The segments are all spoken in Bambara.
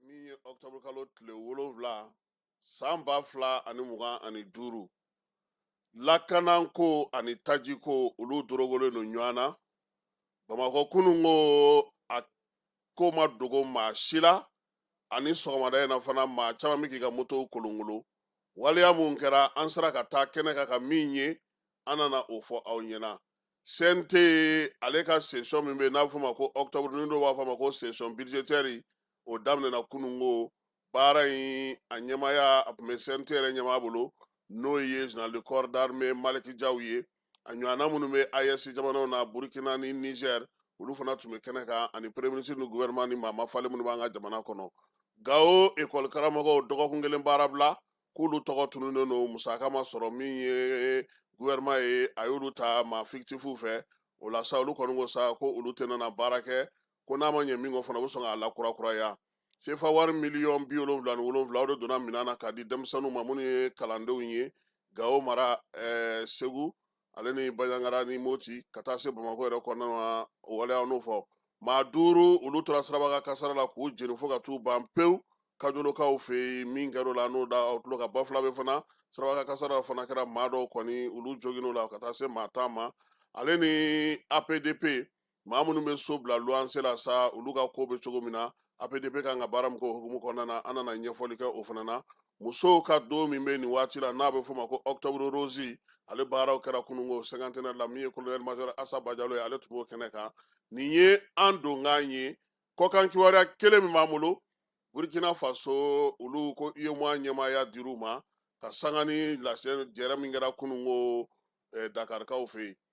min ye octobre kalo tile wolonwula san ba fila ani mugan ani duuru lakananko ani tajiko olu dorogolen don ɲɔgɔn na bamakɔ kununko a ko ma dogo maa si la ani sɔgɔmada in na fana maa caman bɛ k'i ka motow kolonkolo waleya mun kɛra an sera ka taa kɛnɛ kan ka min ye an nana o fɔ aw ɲɛna CNT ale ka session min bɛ n'a bɛ fɔ ma ko octobre ni dɔw b'a fɔ ma ko session budgétaire o daminɛna kununko baara in a ɲɛmaaya a tun bɛ CNT yɛrɛ ɲɛmaa bolo n'o ye général de corps d'armée Maliki Jaw ye a ɲɔgɔnna minnu bɛ AES jamanaw na burukina ni Niger olu fana tun bɛ kɛnɛ kan ani premier ministre ni gouvernement ni maa mafalen minnu b'an ka jamana kɔnɔ Gawo ekɔli karamɔgɔw dɔgɔkun kelen baara bila k'olu tɔgɔ tununnen don musaka ma sɔrɔ min ye gouvernement ye a y'olu ta maa fictifs fɛ o la sa olu kɔni ko sa ko olu tɛna na baara kɛ ko n'a ma ɲɛ min kɔ fana u bɛ sɔn k'a lakurakuraya sefa wari miliyɔn bi wolonwula ni wolonwula o de donna minɛn na k'a di denmisɛnninw ma minnu ye kalandenw ye gawo mara eh, segu ale ni Banjagara ni moti ka taa se bamakɔ yɛrɛ kɔnɔna na o waleya n'o fɔ maa duuru olu tora sirabakan kasara la k'u jeni fo ka t'u ban pewu kajolokaw fɛ yen min kɛr'o la n'o da aw tulo kan Bafulabɛ fana sirabakan kasara fana kɛra maa dɔw kɔni olu joginn'o la ka taa se maa tan ma ale ni APDP maa minnu bɛ so bila luwanse la sa olu ka ko bɛ cogo min na APDP ka kan ka baara min k'o hukumu kɔnɔna na an nana ɲɛfɔli kɛ o fana na musow ka don min bɛ nin waati la n'a bɛ f'o ma ko octobre rose ale baaraw kɛra kununko cinquantenaire la min ye colonel major Asa Bajalo ye ale tun b'o kɛnɛ kan nin ye an donkan ye kɔkan kibaruya kelen min b'an bolo Burkina Faso olu ko UEMOA ɲɛmaaya dir'u ma ka sanga ni lajɛrɛ min kɛra kununko Dakarikaw fɛ yen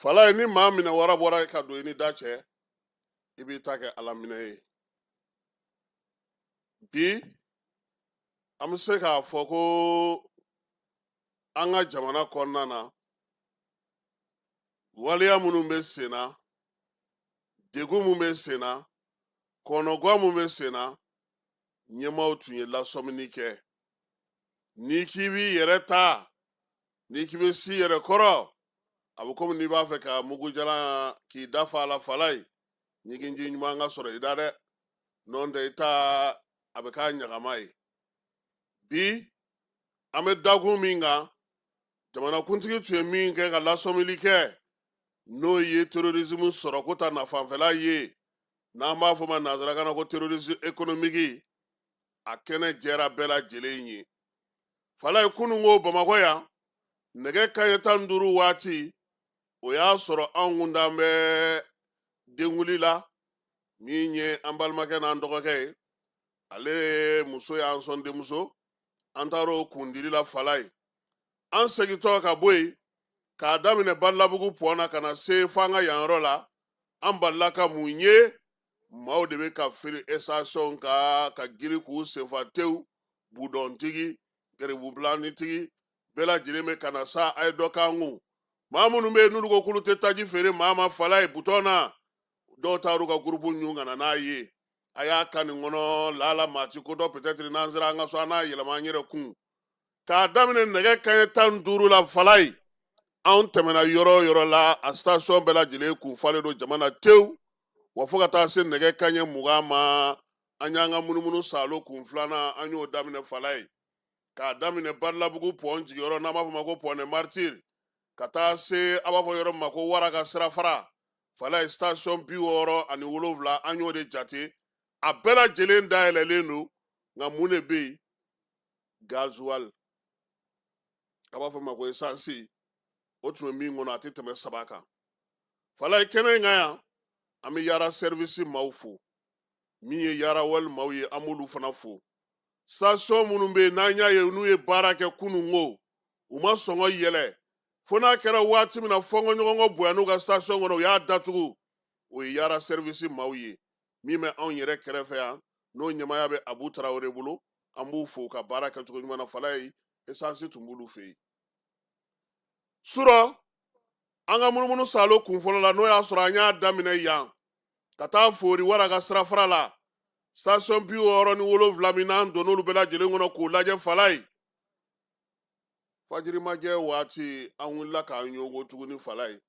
fala ye ni maa minɛ wara bɔra ka don i ni da cɛ i b'i ta kɛ ala minɛ ye bi an bɛ se k'a fɔ ko an ka jamana kɔnɔna na waleya minnu bɛ sen na degun min bɛ sen na kɔnɔguwa min bɛ sen na ɲɛmaaw tun ye lasɔmini kɛ n'i k'i b'i yɛrɛ ta n'i k'i bɛ s'i yɛrɛ kɔrɔ a bɛ komi n'i b'a fɛ ka mugujalan k'i da fa a la fala ye ɲiginji ɲuman ka sɔrɔ i da dɛ n'o tɛ i ta a bɛ k'a ɲagama ye bi an bɛ dakun min kan jamanakuntigi tun ye min kɛ ka lasɔmili kɛ n'o ye terrorisme sɔrɔko ta nafanfɛla ye n'an b'a fɔ ma nanzarakan na ko terrorisme économique a kɛnɛ jɛra bɛɛ lajɛlen ye falaye kunun ko bamakɔ yan nɛgɛ kaɲɛ tan ni duuru waati o y'a sɔrɔ anw kun dan bɛ denkundi la min ye an balimakɛ n'an dɔgɔkɛ ye ale muso y'an sɔn denmuso an taara o kundili la falaye an segintɔ ka bɔ yen k'a daminɛ badalabugu pɔn na ka na se fo an ka yan yɔrɔ la an balila ka mun ye maaw de bɛ ka firi station kan ka girin k'u sen fa tewu budɔntigi garibubilanitigi bɛɛ lajɛlen bɛ ka na sa a ye dɔ k'an kun maa minnu bɛ yen n'olu ko k'olu tɛ taji feere maa ma falaye budɔn na dɔw taar'u ka gurupu ɲun ka na n'a ye a y'a ka nin kɔnɔ laala maa ti ko dɔn peut-être n'an sera an ka so an n'a yɛlɛma an yɛrɛ kun k'a daminɛ nɛgɛ kaɲɛ tan ni duuru la falaye anw tɛmɛna yɔrɔ o yɔrɔ la a station bɛɛ lajɛlen kun falen don jama na tewu wa fo ka taa se nɛgɛ kaɲɛ mugan ma an y'an ka munumunu saalo kun filanan an y'o daminɛ falaye k'a daminɛ badalabugu pɔn jiginyɔrɔ n'an b'a fɔ ma ko pont des martyrs ka taa se a b'a fɔ yɔrɔ min ma ko wara ka sirafara falaye station bi wɔɔrɔ ani wolonwula an y'o de jate a bɛɛ lajɛlen dayɛlɛlen don nka mun de bɛ yen gazuwali a b'a fɔ ma ko esansi o tun bɛ min kɔnɔ a tɛ tɛmɛ saba kan falaye kɛnɛ in kan yan an bɛ yaara sɛriwisi maaw fo min ye yaara oil maaw ye an b'olu fana fo station minnu bɛ yen n'an y'a ye n'u ye baara kɛ kunun ko u ma sɔngɔ yɛlɛ fo n'a kɛra waati min na fɔnkɔɲɔgɔnkɔ bonyan'u ka station kɔnɔ u y'a datugu o ye yaara sɛriwisi maaw ye min bɛ anw yɛrɛ kɛrɛfɛ yan n'o ɲɛmaaya bɛ abu tarawele bolo an b'u fo ka baarakɛcogo ɲuman na falaye esansi tun b'olu fɛ yen surɔ an ka munumunu salo kun fɔlɔ la n'o y'a sɔrɔ an y'a daminɛ yan ka taa fori wara ka sirafara la station bi wɔɔrɔ ni wolonwula min n'an donn'olu bɛɛ lajɛlen kɔnɔ k'o lajɛ falaye fajirimajɛ waati an wulila k'an ɲɔgo tuguni falaye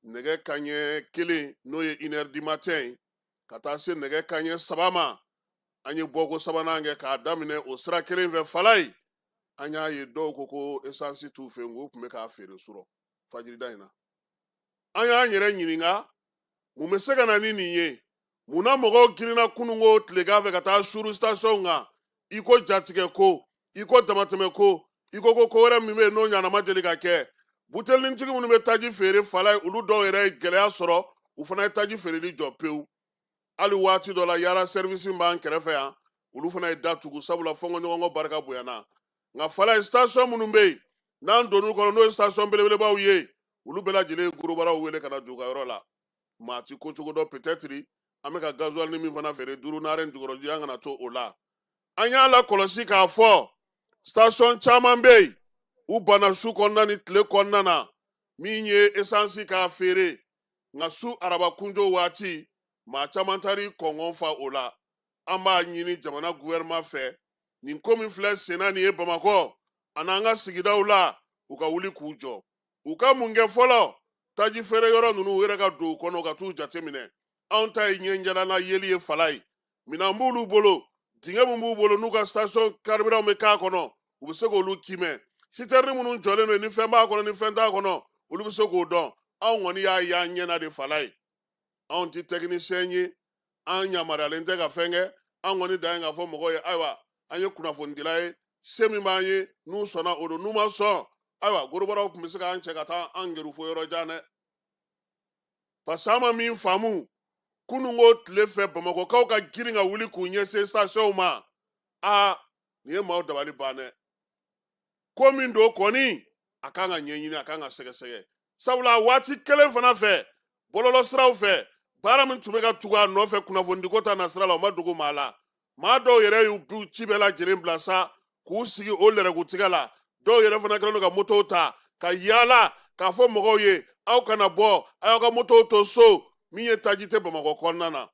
nɛgɛ kaɲɛ kelen n'o ye inɛri di matɛn ye ka taa se nɛgɛ kaɲɛ saba ma an ye bɔko sabanan kɛ k'a daminɛ o sira kelen fɛ falaye an y'a ye dɔw ko ko esansi t'u fɛ nk'u tun bɛ k'a feere surɔ fajirida in na an y'an yɛrɛ ɲininka mun bɛ se ka na ni nin ye mun na mɔgɔw girinna kununko tilegan fɛ ka taa suuru sitasiɔn kan i ko jatigɛ ko i ko damatɛmɛ ko i ko ko ko wɛrɛ min bɛ yen n'o ɲɔgɔnna ma deli ka kɛ butelinintigi minnu bɛ taji feere falaye olu dɔw yɛrɛ ye gɛlɛya sɔrɔ u fana ye taji feereli jɔ pewu hali waati dɔ la yaara sɛrivisi b'an kɛrɛfɛ yan olu fana ye da tugu sabula fɔnkɔɲɔgɔnkɔ barika bonyana nka falaye station minnu bɛ yen n'an donn'u kɔnɔ n'o ye station belebelebaw ye olu bɛɛ lajɛlen ye gorobaraw wele ka na don u ka yɔrɔ la maa ti ko cogo dɔn peut-être an bɛ ka gasoil ni min fana feere duuru naani jukɔrɔji an kana to o la an y'a lakɔlɔsi k'a fɔ station caman bɛ yen u banna su kɔnɔna ni tile kɔnɔna na min ye esansi k'a feere nka su araba kunjo waati maa caman taar'i kɔngɔn fa o la an b'a ɲini jamana gouvernement fɛ nin ko min filɛ senna nin ye bamakɔ ani an ka sigidaw la u ka wuli k'u jɔ u ka mun kɛ fɔlɔ taji feere yɔrɔ ninnu u yɛrɛ ka don u kɔnɔ ka t'u jateminɛ anw ta ye ɲɛjalanna yeli ye falaye minɛn b'olu bolo dingɛ min b'u bolo n'u ka station karibiranw bɛ k'a kɔnɔ u bɛ se k'olu kimɛ sitɛrini minnu jɔlen don ni fɛn b'a kɔnɔ ni fɛn t'a kɔnɔ olu bɛ se k'o dɔn anw kɔni y'a y'an ɲɛna de falaye anw ti tɛkinisiyɛn ye an yamaruyalen tɛ ka fɛn kɛ an kɔni dan ye k'a fɔ mɔgɔw ye ayiwa an ye kunnafonidila ye se min b'an ye n'u sɔnna o don n'u ma sɔn ayiwa gorobaraw tun bɛ se k'an cɛ ka taa an kɛrun fo yɔrɔ jan dɛ parce que an ma min faamu kununko tile fɛ bamakɔkaw ka girin ka wuli k'u ɲɛsin stationw ma aa nin ye maaw dabali ban dɛ ko min don kɔni a kan ka ɲɛɲini a kan ka sɛgɛsɛgɛ sabula waati kelen fana fɛ bɔlɔlɔ siraw fɛ baara min tun bɛ ka tugu a nɔfɛ kunnafonidiko ta nasira la o ma dogo maa la maa dɔw yɛrɛ y'u ci bɛɛ lajɛlen bila sa k'u sigi o lɛrɛgutigɛ la dɔw yɛrɛ fana kɛlen don ka motow ta ka yaala k'a fɔ mɔgɔw ye aw kana bɔ a y'aw ka motow to so min ye taji tɛ bamakɔ kɔnɔna na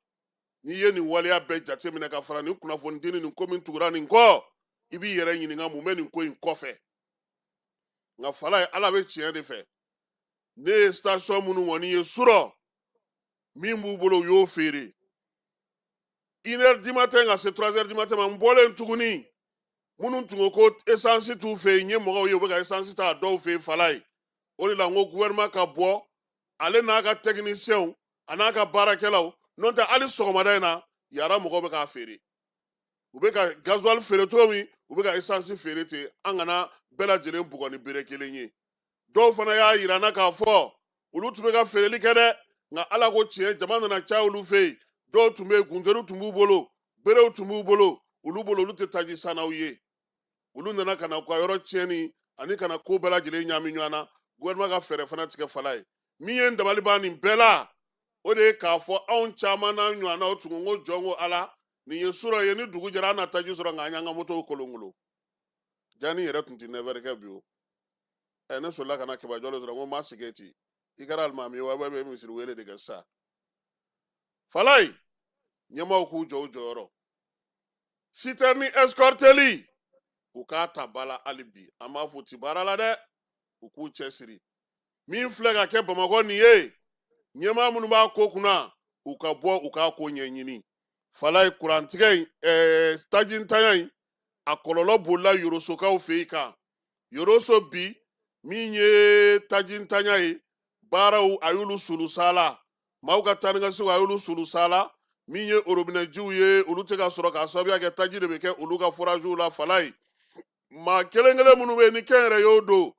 n'i ye nin waleya bɛɛ jateminɛ ka fara nin kunnafonidi ni nin ko min tugura nin kɔ i b'i yɛrɛ ɲininka mun bɛ nin ko in kɔfɛ nka falaye ala bɛ tiɲɛ de fɛ ne ye station minnu kɔni ye surɔ min b'u bolo u y'o feere une heure du matin ka se trois heures du matin ma n bɔlen tuguni minnu tun ko ko esansi t'u fɛ yen n ye mɔgɔw ye u bɛ ka esansi ta a dɔw fɛ yen falaye o de la n ko gouvernement ka bɔ ale n'a ka techniciens a n'a ka baarakɛlaw n'o tɛ hali sɔgɔmada in na yara mɔgɔw bɛ k'a feere u bɛ ka gazuwali feere cogo min u bɛ ka esansi feere ten an kana bɛɛ lajɛlen bugɔ ni bere kelen ye dɔw fana y'a yira n na k'a fɔ olu tun bɛ ka feereli kɛ dɛ nka ala ko tiɲɛ jama nana caya olu fɛ yen dɔw tun bɛ yen guntɛriw tun b'u bolo berew tun b'u bolo olu bolo olu tɛ taji sannaw ye olu nana ka na u ka yɔrɔ tiɲɛni ani ka na ko bɛɛ lajɛlen ɲaami ɲɔgɔn na gouvernement ka fɛɛrɛ fana tigɛ falaye min ye n dabali ban nin bɛɛ la o de ye k'a fɔ anw caman n'an ɲɔgɔnnaw tun ko jɔn ko ala nin ye surɔ ye ni dugu jɛra an na taji sɔrɔ nka an y'an ka motow kolonkolon jani yɛrɛ tun tɛ neuf heures kɛ bi o ɛ ne sɔrɔla ka na kɛba jɔlen sɔrɔ ko n ma sigi ten i kɛra alimami ye wa i bɛ misiri wele de kɛ sa falaye ɲɛmaaw k'u jɔ u jɔyɔrɔ sitɛrini ɛsikɔriteli u k'a ta ba la hali bi an b'a fɔ u tɛ baara la dɛ u k'u cɛsiri min filɛ ka kɛ bamakɔ nin ye ɲɛmaa minnu b'a ko kunna u ka bɔ u k'a ko ɲɛɲini falaye kurantigɛ in eh, tajintanya in a kɔlɔlɔ bolila yorosokaw fɛ yen kan yoroso bi min ye tajintanya ye baaraw a y'olu sulusala maaw ka taa ni ka segin a y'olu sulusala min ye orobinɛjiw ye olu tɛ ka sɔrɔ k'a sababuya kɛ taji de bɛ kɛ olu ka foraziw la falaye maa kelen kelen minnu bɛ yen ni kɛnyɛrɛyew don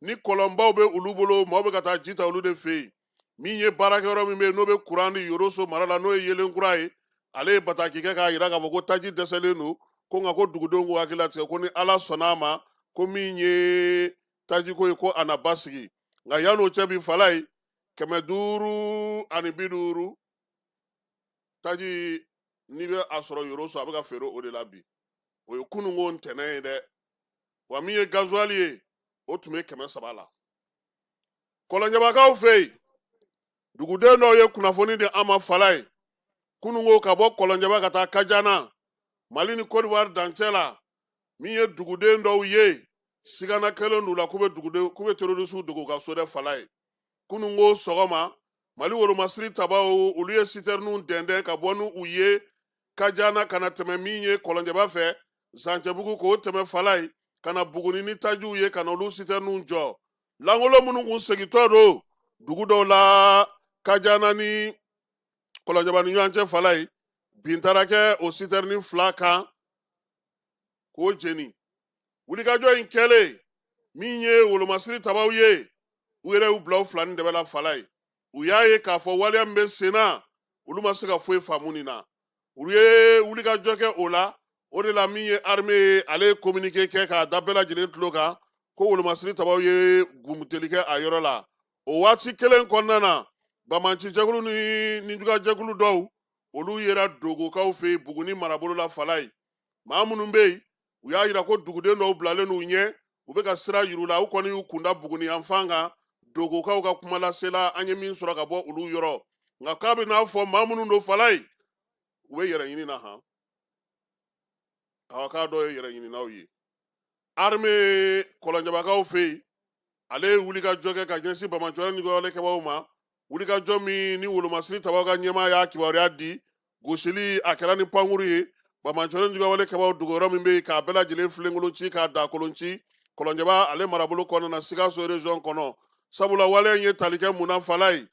ni kɔlɔnbaw bɛ olu bolo maaw bɛ ka taa ji ta olu de fɛ yen min ye baarakɛyɔrɔ min bɛ yen n'o bɛ kuran di yoroso mara la n'o ye yeelen kura ye ale ye bataki kɛ k'a jira k'a fɔ ko taji dɛsɛlen don ko nka ko dugudenw k'u hakili latigɛ ko ni ala sɔnna a ma ko min ye tajiko ye ko a na basigi nka yan'o cɛ bi falaye kɛmɛ duuru ani bi duuru taji n'i bɛ a sɔrɔ yoroso a bɛ ka feere o de la bi o ye kununko ntɛnɛn ye dɛ wa min ye gazuwali ye o tun bɛ kɛmɛ saba la kɔlɔnjɛbakaw fɛ yen duguden dɔw ye kunnafoni di an ma falaye kununko ka bɔ kɔlɔnjɛba ka taa kajana mali ni kodiwari dancɛ la min ye duguden dɔw ye sigana kɛlen d'u la k'u bɛ duguden k'u bɛ terorisiw dogo ka so dɛ falaye kununko sɔgɔma mali wolomasiri tabaw olu ye sitɛriniw dɛndɛn ka bɔ n'u ye kajana ka na tɛmɛ min ye kɔlɔnjɛba fɛ zancɛbugu k'o tɛmɛ falaye ka na buguni ni tajiw ye ka na olu sitɛriniw jɔ lankolon minnu kun segintɔ don dugu dɔw la kajana ni kɔlɔnjɛba ni ɲɔgɔn cɛ falaye bin taara kɛ o sitɛrini fila kan k'o jeni wulikajɔ in kɛlen min ye wolomasiri tabaw ye u yɛrɛ y'u bila u fila ni dɛbɛ la falaye u y'a ye k'a fɔ waleya min bɛ sen na olu ma se ka foyi faamu nin na u ye wulikajɔ kɛ o la o de la min ye arme ye ale ye kominike kɛ k'a da bɛɛ lajɛlen tulo kan ko wolomasiri tabaw ye gumuteli kɛ a yɔrɔ la o waati kelen kɔnɔna na banbaanci jɛkulu ni ninjugajɛkulu dɔw olu yera dogokaw fɛ buguni marabolo la falaye maa minnu bɛ yen u y'a yira ko duguden dɔw bilalen n'u ɲɛ u bɛ ka sira yir'u la u kɔni y'u kun da buguni yan fan kan dogokaw ka kuma lasela an ye min sɔrɔ ka bɔ olu yɔrɔ nka k'a bɛ n'a fɔ maa minnu don falaye u bɛ yɛrɛɲini na han awɔ k'a dɔw ye yɛrɛɲininaw ye arme kɔlɔnjabakaw fɛ yen ale ye wulikajɔ kɛ ka ɲɛsin bamanciwale ni jugawale kɛbaw ma wulikajɔ min ni wolomasiri tabaw ka ɲɛmaa y'a kibaruya di gosili a kɛra ni pankuru ye bamanciwale ni jugawale kɛbaw dogoyɔrɔ min bɛ yen k'a bɛɛ lajɛlen filenkolon ci k'a da kolon ci kɔlɔnjaba ale marabolo kɔnɔna na sikaso region kɔnɔ sabula waleya in ye tali kɛ mun na fala ye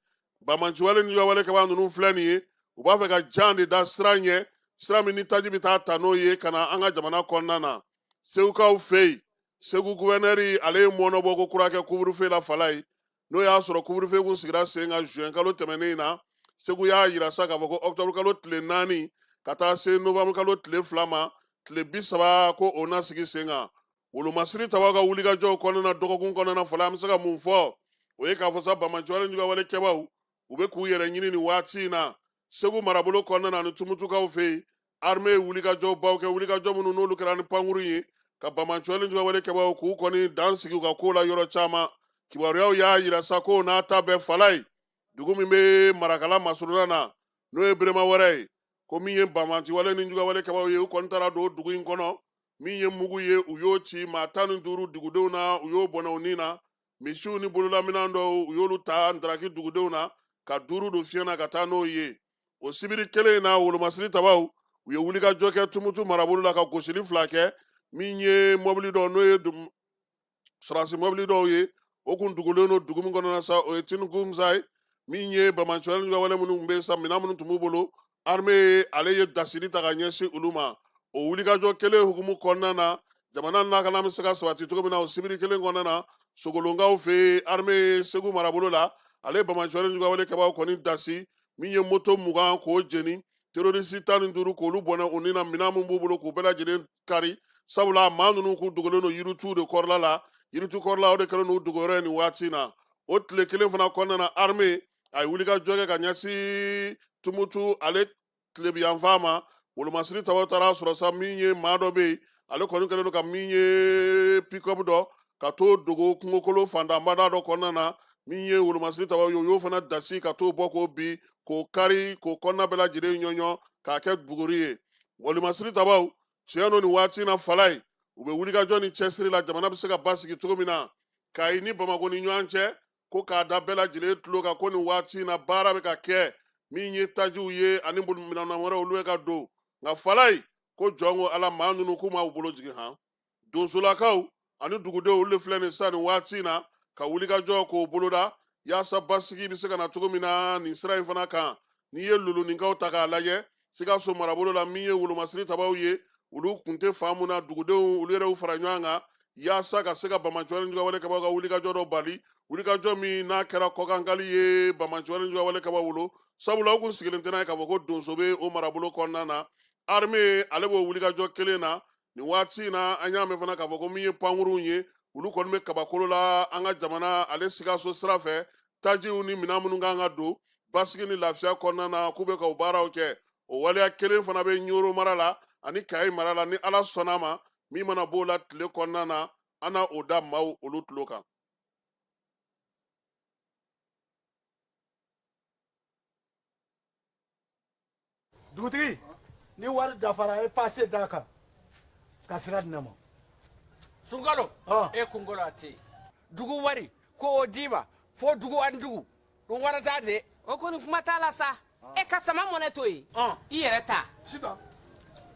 bamanciwale ni jugawale kɛbaw ninnu filɛ nin ye u b'a fɛ ka jan de da sira ɲɛ sira min ni taji bɛ taa ta n'o ye ka na an ka jamana kɔnɔna na segukaw fɛ yen segu gouverneur ale ye mɔnɔbɔ ko kura kɛ couvre-feu la fala ye n'o y'a sɔrɔ couvre-feu kun sigira sen kan juin kalo tɛmɛnen na segu y'a yira sa k'a fɔ ko octobre kalo tile naani ka taa se novembre kalo tile fila ma tile bi saba ko o na sigi sen kan wolomasiri tabaw ka wulikajɔw kɔnɔna dɔgɔkun kɔnɔna fala an bɛ se ka mun fɔ o ye k'a fɔ sa bamanciwale ni jugawale kɛbaw u bɛ k'u yɛrɛ ɲini nin waati in na segu marabolo kɔnɔna ani tumutukaw fɛ yen arme ye wulikajɔ baw kɛ wulikajɔ minnu n'olu kɛra ni pankuru ye ka bamanciwale ni jugawale kɛbaw k'u kɔni dan sigi u ka ko la yɔrɔ caman kibaruyaw y'a yira sa ko n'a ta bɛɛ fala ye dugu min bɛ marakala masurunan na n'o ye berema wɛrɛ ye ko min ye bamanciwale ni jugawale kɛbaw ye u kɔni taara don dugu in kɔnɔ min ye mugu ye u y'o ci maa tan ni duuru dugudenw na u y'o bɔnɛ u ni na misiw ni bololaminɛn dɔw u y'olu ta ndaraki dugudenw na ka duuru don fiɲɛ na ka taa n'o ye o sibiri kelen in na wolomasiri tabaw u ye wulikajɔ kɛ tumutu marabolo la ka gosili fila kɛ min ye mɔbili dɔ n'o ye sɔrɔdasi mɔbili dɔw ye o kun dogolen don dugu min kɔnɔna sa o ye tinuku musa ye min ye bamanciwale ni jugawale minnu bɛ sa minɛn minnu tun b'u bolo arme ale ye dasiri ta ka ɲɛsin olu ma o wulikajɔ kelen hukumu kɔnɔna na jamana lakana bɛ se ka sabati cogo min na o sibiri kelen kɔnɔna na sogolonkaw fɛ arme ye segu marabolo la ale bamanciwale ni jugawale kɛbaw kɔni dasi min ye moto mugan k'o jeni terorisi tan ni duuru k'olu bɔnɛ u ni na minɛn min b'u bolo k'u bɛɛ lajɛlen kari sabula maa ninnu kun dogolen don yiritu de kɔrɔla la yiritu kɔrɔla o de kɛlen don u dogoyɔrɔ ye nin waati na o tile kelen fana kɔnɔna na arme a ye wulikajɔ kɛ ka ɲɛsin tumutu ale tilebiyanfan ma wolomasiri tabaw taara a sɔrɔ sa min ye maa dɔ bɛ yen ale kɔni kɛlen don ka min ye pickup dɔ ka t'o dogo kungokolo fantanbada dɔ kɔnɔna na min ye wolomasiri tabaw ye u y'o fana dasi ka t'o bɔ k'o bin k'o kari k'o kɔnɔna bɛɛ lajɛlen ɲɔɲɔ k'a kɛ buguri ye wolomasiri tabaw tiɲɛ don nin waati na fala ye u bɛ wulikajɔ ni cɛsiri la jamana bɛ se ka basigi cogo min na kayi ni bamakɔ ni ɲɔgɔn cɛ ko k'a da bɛɛ lajɛlen tulo kan ko nin waati na baara bɛ ka kɛ min ye tajiw ye ani minɛn wɛrɛ olu bɛ ka don nka fala ye ko jɔn ko ala maa ninnu k'u ma bolo jigin han donsolakaw ani dugudenw olu de filɛ nin sisan nin waati in na ka wulikajɔ k'o boloda yaasa basigi bɛ se ka na cogo min na nin sira in fana kan n'i ye luluninkaw ta k'a lajɛ sikaso marabolo la min ye wolomasiri tabaw ye olu kun tɛ fan min na dugudenw olu yɛrɛ y'u fara ɲɔgɔn kan yaasa ka se ka banbaanci juguwale kɛbaw ka wulikajɔ dɔ bali wulikajɔ min n'a kɛra kɔkankali ye banbaanci juguwale kɛbaw bolo sabula u kun sigilen tɛ n'a ye k'a fɔ ko donso bɛ o marabolo kɔnɔna na armée ale b'o wulikajɔ kelen na nin waati in na an y'a mɛn fana k'a fɔ ko min ye pankurunw ye olu kɔni bɛ kabakolo la an ka jamana ale sikaso sira fɛ tajiw ni minɛn minnu kan ka don basigi ni lafiya kɔnɔna na k'u bɛ ka o baaraw kɛ o waleya kelen fana bɛ ɲoro mara la ani kayi mara la ni ala sɔnna ma min mana b'o la tile kɔnɔna na an na o da maaw olu tulo kan dugutigi ni wari dafara ye pase d'a kan ka sira di ne ma sunkalo e kunkolo a tɛ yen dugu wari ko o d'i ma fo dugu ani dugu dun wɛrɛ t'a de o kɔni kuma t'a la sa e ka sama mɔnɛ to yen i yɛrɛ ta sita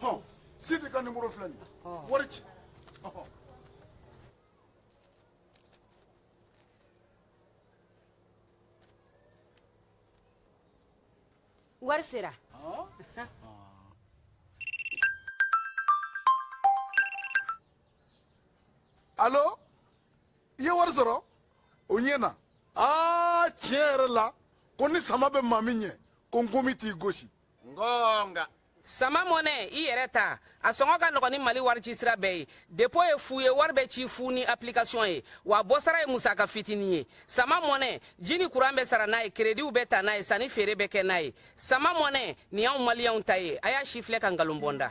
hɔn sidi ka nimoro filɛ nin ye wari ci wari sera alo i ye wari sɔrɔ o ɲɛna aa tiɲɛ yɛrɛ la ko ni sama bɛ maa min ɲɛ ko nkomi t'i gosi nka sama mɔnɛ i yɛrɛ ta a sɔngɔ ka nɔgɔn ni mali warici sira bɛɛ ye depo ye fu ye wari bɛ ci fu ni application ye wa bɔsara ye musaka fitini ye sama mɔnɛ ji ni kuran bɛ sara n'a ye kerediw bɛ ta n'a ye sanni feere bɛ kɛ n'a ye sama mɔnɛ nin y'anw maliyɛnw ta ye a y'a sifilɛ ka nkalon bɔ n da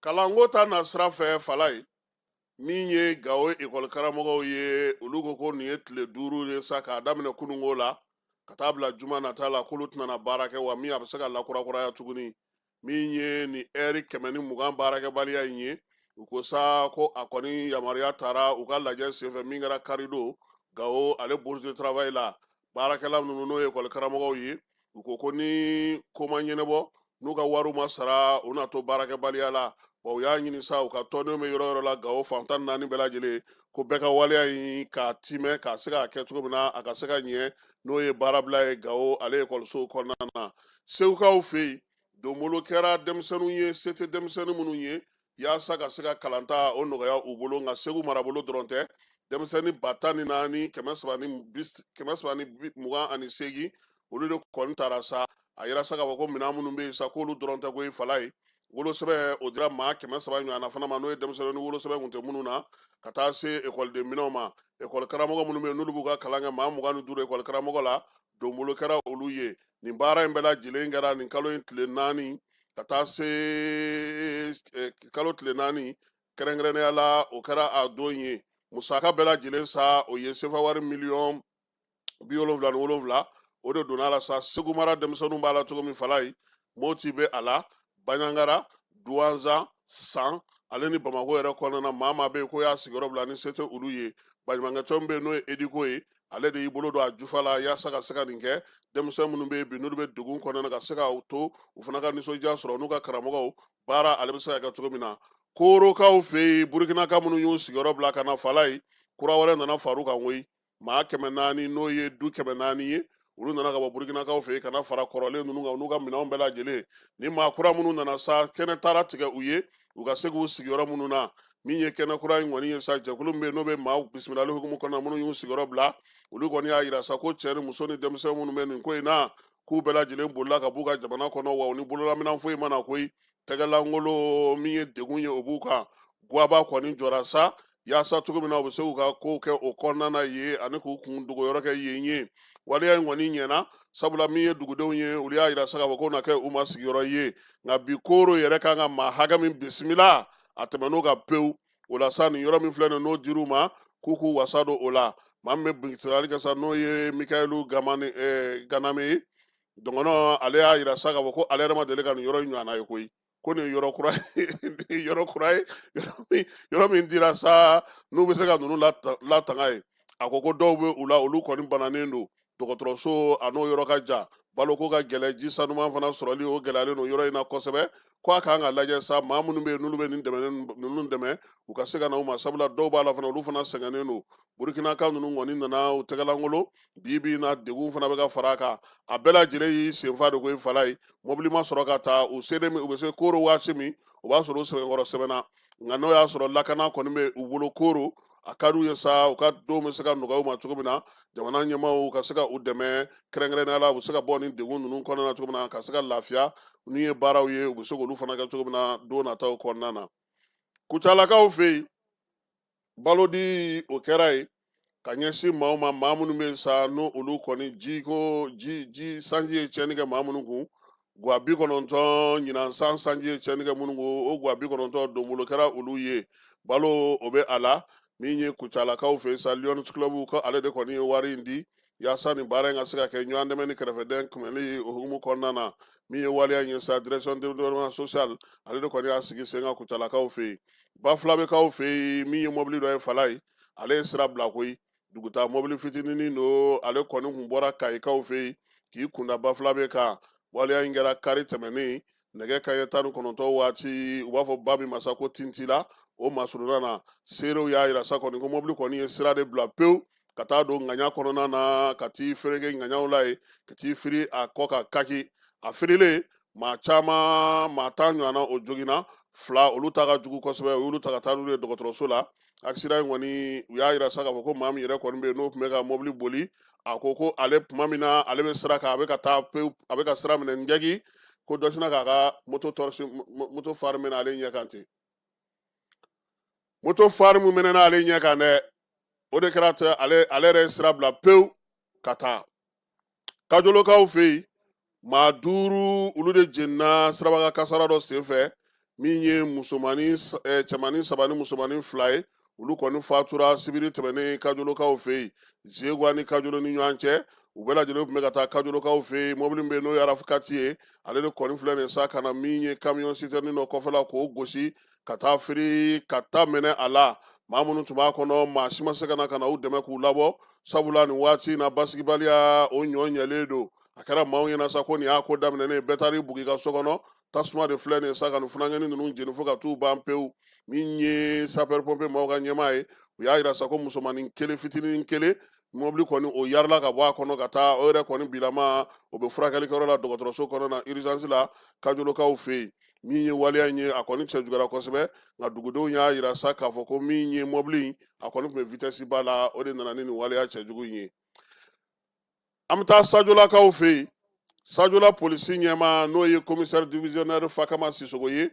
kalanko ta nasira fɛ fala ye min ye gawo ekɔlikaramɔgɔw ye olu ko ko nin ye tile duuru ye sa k'a daminɛ kununko la ka taa bila juma nata la k'olu tɛna baara kɛ wa min a bɛ se ka lakurakuraya tuguni min ye nin ɛri kɛmɛ ni mugan baarakɛbaliya in ye u ko sa ko a kɔni yamaruya tara u ka lajɛ senfɛ min kɛra kari don gawo ale bourse de travail la baarakɛla ninnu n'o ye ekɔli karamɔgɔw ye u ko ko ni ko ma ɲɛnabɔ n'u ka wariw ma sara u na to baarakɛbaliya la wa u y'a ɲini sa u ka tɔndenw bɛ yɔrɔ yɔrɔ la gawo fan tan naani bɛɛ lajɛlen ko bɛɛ ka waleya in k'a timɛ k'a se k'a kɛ cogo min na a ka se ka ɲɛ n'o ye baarabila ye gawo ale ekɔlisow kɔnɔna na segukaw fɛ yen donbolo kɛra denmisɛnninw ye se tɛ denmisɛnnin minnu ye yaasa ka se ka kalanta o nɔgɔya u bolo nka segu marabolo dɔrɔn tɛ denmisɛnnin ba tan ni naani kɛmɛ saba ni mugan ani seegin olu de kɔni taara sa a jira sa k'a fɔ ko minɛn minnu bɛ yen sa k'olu dɔrɔn tɛ koyi falayi wolosɛbɛn o dira maa kɛmɛ saba ɲɔgɔnna fana ma n'o ye denmisɛnnin ni wolosɛbɛn kun tɛ minnu na ka taa se ekɔliden minɛnw ma ekɔli karamɔgɔ minnu bɛ yen n'olu b'u ka kalan kɛ maa mugan ni duuru ekɔli karamɔgɔ la donbolo kɛra olu ye nin baara in bɛɛ lajɛlen kɛra nin kalo in tile naani ka taa se eh, kalo tile naani kɛrɛnkɛrɛnnenya la o kɛra a don ye musaka bɛɛ lajɛlen sa o ye sefa wari miliyɔn bi wolonwula ni wolonwula o de donna a la sa segu mara denmisɛnninw b'a la cogo min falayi moti bɛ a la baɲangara duwanzan san ale ni bamakɔ yɛrɛ kɔnɔna na maa maa bɛ yen ko y'a sigiyɔrɔ bila ni se tɛ olu ye baɲumankɛtɔn bɛ yen n'o ye ediko ye ale de y'i bolo don a jufa la yaasa ka se ka nin kɛ denmisɛn minnu bɛ yen bi n'olu bɛ degun kɔnɔna na ka se ka to u fana ka nisɔndiya sɔrɔ n'u ka karamɔgɔw baara ale bɛ se ka kɛ cogo min na korokaw fɛ yen burukinaka minnu y'u sigiyɔrɔ bila ka na falayi kura wɛrɛ nana far'u kan koyi maa kɛmɛ naani n'o ye du kɛmɛ naani ye olu nana ka bɔ burukinakaw fɛ yen ka na fara kɔrɔlen ninnu kan n'u ka minɛnw bɛɛ lajɛlen ni maa kura minnu nana sa kɛnɛ taara tigɛ u ye u ka se k'u sigi yɔrɔ minnu na min ye kɛnɛ kura in kɔni ye sa jɛkulu min bɛ yen n'o bɛ maaw bisimilali hukumu kɔnɔ minnu y'u sigiyɔrɔ bila olu kɔni y'a jira sa ko cɛ ni muso ni denmisɛn minnu bɛ nin ko in na k'u bɛɛ lajɛlen bolila ka b'u ka jamana kɔnɔ wa u ni bololaminɛn foyi ma na koyi tɛgɛlankolon min ye degun ye o b'u kan gaba kɔni jɔra sa yaasa cogo min na u bɛ se k'u ka kow kɛ o kɔnɔna ye ani k'u kun dogoyɔrɔ kɛ yen ye waleya in kɔni ɲɛna sabula min ye dugudenw ye olu y'a jira sa k'a fɔ k'o na kɛ u ma sigiyɔrɔ ye nka bi koro yɛrɛ kan ka maa hakɛ min bisimila a tɛmɛnn'o kan pewu o la sa nin yɔrɔ min filɛ nin n'o dir'u ma k'u k'u wasa don o la maa min bɛ bisimilali kɛ sa n'o ye mikayilu ganame ye dɔgɔnɔ ale y'a jira sa k'a fɔ ko ale yɛrɛ ma deli ka nin yɔrɔ in ɲɔgɔnna ye koyi ko nin yɔrɔ kura yɔrɔ kura ye yɔrɔ min dira sa n'u bɛ se ka ninnu latanga ye a ko ko dɔw bɛ u la olu kɔni bananen don dɔgɔtɔrɔso a n'o yɔrɔ ka jan baloko ka gɛlɛ ji sanuman fana sɔrɔli o gɛlɛyalen don yɔrɔ in na kosɛbɛ ko a ka kan ka lajɛ sa maa minnu bɛ yen n'olu bɛ nin dɛmɛ ninnu dɛmɛ u ka se ka na u ma sabula dɔw b'a la fana olu fana sɛgɛnnen don burukinaka ninnu kɔni nana u tɛgɛlankolon bi bi na degun fana bɛ ka fara a kan a bɛɛ lajɛlen y'i senfa de koyi falayi mɔbili ma sɔrɔ ka taa u selen u bɛ se koro waati min o b'a sɔrɔ u sɛbɛkɔrɔ sɛgɛnna nka n'o y'a sɔrɔ lakana kɔni bɛ u bolo koro a ka d'u ye sa u ka denw bɛ se ka nɔgɔya u ma cogo min na jamana ɲɛmaaw ka se ka u dɛmɛ kɛrɛnkɛrɛnnenya la u bɛ se ka bɔ nin degun ninnu kɔnɔna na cogo min na ka se ka lafiya n'u ye baaraw ye u bɛ se k'olu fana kɛ cogo min na don nataw kɔnɔna na kucalakaw fɛ yen balodi o kɛra yen ka ɲɛsin maa ma maa minnu bɛ sa n'o olu kɔni jiko ji ji sanji ye tiɲɛni kɛ maa minnu kun gwa bi kɔnɔntɔn ɲinan san sanji ye tiɲɛni kɛ minnu kun o gwa bi kɔnɔntɔn donbolo kɛra olu ye balo o bɛ a la min ye kucalakaw fɛ sa lions club ko ale de kɔni ye wari in di yaasa nin baara in ka se ka kɛ ɲɔgɔn dɛmɛ ni kɛrɛfɛdɛn kunbɛnli o hukumu kɔnɔna na min ye waleya in ye sa direction de développement social ale de kɔni y'a sigi sen kan kucalakaw fɛ yen bafulabɛkaw fɛ yen min ye mɔbili dɔ ye fala ye ale ye sira bila koyi dugutaa mɔbili fitininin don ale kɔni kun bɔra kayikaw fɛ yen k'i kunda bafulabɛ kan waleya in kɛra kari tɛmɛnen nɛgɛ kanɲɛ tan ni kɔnɔntɔn waati u b'a fɔ ba min ma sa ko tintila o masuruna na seerew y'a yira sa kɔni ko mɔbili kɔni ye sira de bila pewu ka taa don ŋaɲa kɔnɔna na ka t'i fereke ŋaɲaw la yen ka t'i firi a kɔ kan kaki a firilen maa caman maa tan ɲɔgɔnna o joginna fila olu ta ka jugu kosɛbɛ u y'olu ta ka taa n'olu ye dɔgɔtɔrɔso la accident in kɔni u y'a yira sa k'a fɔ ko maa min yɛrɛ kɔni bɛ yen n'o tun bɛ ka mobili boli a ko ko ale tuma min na ale bɛ sira kan a bɛ ka taa pewu a bɛ ka sira minɛ n jɛgi ko dɔ sinna k'a ka moto tɔrɔsi moto fari minɛ ale ɲɛ kan ten moto fari min minɛna ale ɲɛ kan dɛ o de kɛra ale ale yɛrɛ ye sira bila pewu ka taa kajolokaw fɛ yen maa duuru olu de jenina siraba kasara dɔ senfɛ min ye musomannin eh, cɛmannin saba ni musomannin fila ye olu kɔni fatura sibiri tɛmɛnen kajolokaw fɛ yen zegwa ni kajolo ni ɲɔgɔn cɛ u bɛɛ lajɛlen tun bɛ ka taa kajolokaw fɛ yen mɔbili bɛ yen n'o ye arafukati ye ale de kɔni filɛ nin sa ka na min ye kamiyɔn sitɛrɛni dɔ kɔfɛla k'o gosi ka taa firi ka ta minɛ a la maa minnu tun b'a kɔnɔ maa si ma se ka na ka na u dɛmɛ k'u labɔ sabula nin waati in na basigibaliya o ɲɔ ɲɛlen don a kɛra maaw ɲɛna sa ko nin y'a ko daminɛnen bɛɛ taar'i bugi ka so kɔnɔ tasuma de filɛ nin ye sa ka nin funankɛni ninnu jeni fo ka t'u ban pewu min ye sapɛri pɔnpiye maaw ka ɲɛmaa ye u y'a yira sa ko musomanin kelen fitinin kelen mɔbili kɔni o yarila ka bɔ a kɔnɔ ka taa o yɛrɛ kɔni bilama o bɛ furakɛlikɛyɔrɔ la dɔgɔtɔrɔso kɔnɔ na urgence la kajolokaw fɛ yen min ye waleya in ye a kɔni cɛjuguyara kosɛbɛ nka dugudenw y'a yira sa k'a fɔ ko min ye mɔbili in a kɔni tun bɛ vitɛsi ba la o de nana ni nin waleya cɛjugu in ye an bɛ taa sajolakaw fɛ yen sajola polisi ɲɛmaa n'o ye komisɛri divisionɛri fakama sisogo ye